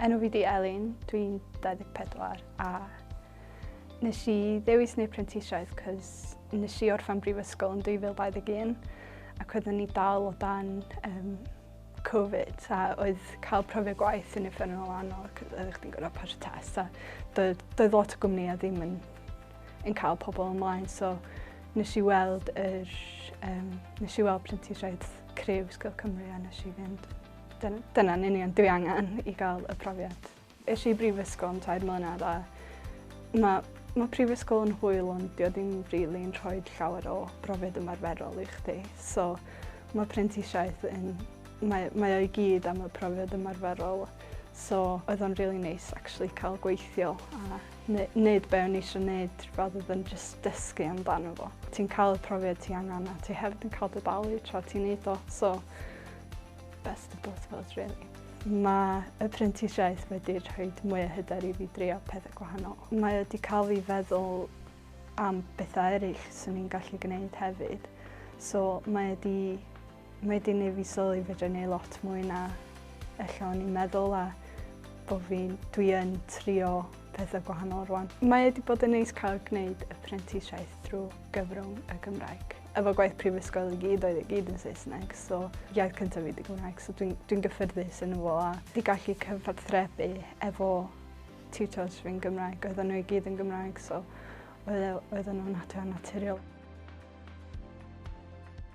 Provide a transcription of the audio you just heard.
Enw fi di Elin, dwi'n 24 a nes i ddewis neu prentisiaeth cys nes i orffan brifysgol yn 2021 ac oeddwn ni dal o dan um, Covid a oedd cael profiad gwaith yn effernol anodd cys oeddech chdi'n gorau pas y test a doedd, doedd lot o gwmnïau ddim yn, yn cael pobl ymlaen so nes i weld yr, um, nes i weld prentisiaeth Cryf Sgil Cymru a nes i fynd. Dyn, dyna'n union dwi angen i gael y profiad. Eis i brifysgol am tair mlynedd a mae ma prifysgol yn hwyl ond dio ddim rili'n really rhoi llawer o brofiad ymarferol i chdi. So mae prentisiaeth yn... Mae, mae o'i gyd am y profiad ymarferol. So oedd o'n really nice actually cael gweithio a Nid be o'n i eisiau gwneud, rather than just dysgu amdano fo. Ti'n cael y profiad ti angen a ti hefyd yn cael dy dalu tra ti'n neud o, so best of both worlds really. Mae y prentisiaeth wedi rhoi mwy o hyder i fi drio pethau gwahanol. Mae wedi cael fi feddwl am bethau eraill sy'n ni'n gallu gwneud hefyd. So mae wedi Mae di neu fi sylwi fedra neu lot mwy na ella o'n i'n meddwl a bod fi'n dwi yn trio pethau gwahanol rwan. Mae wedi bod yn neis cael gwneud y prentisiaeth drwy gyfrwng y Gymraeg. Efo gwaith prifysgol i gyd oedd i gyd yn Saesneg, so iaith cyntaf fi di Gymraeg, so dwi'n dwi gyffyrddus yn fo a di gallu cyfathrebu efo tutors fi'n Gymraeg, oedd nhw i gyd yn Gymraeg, so oedd e, nhw'n naturiol.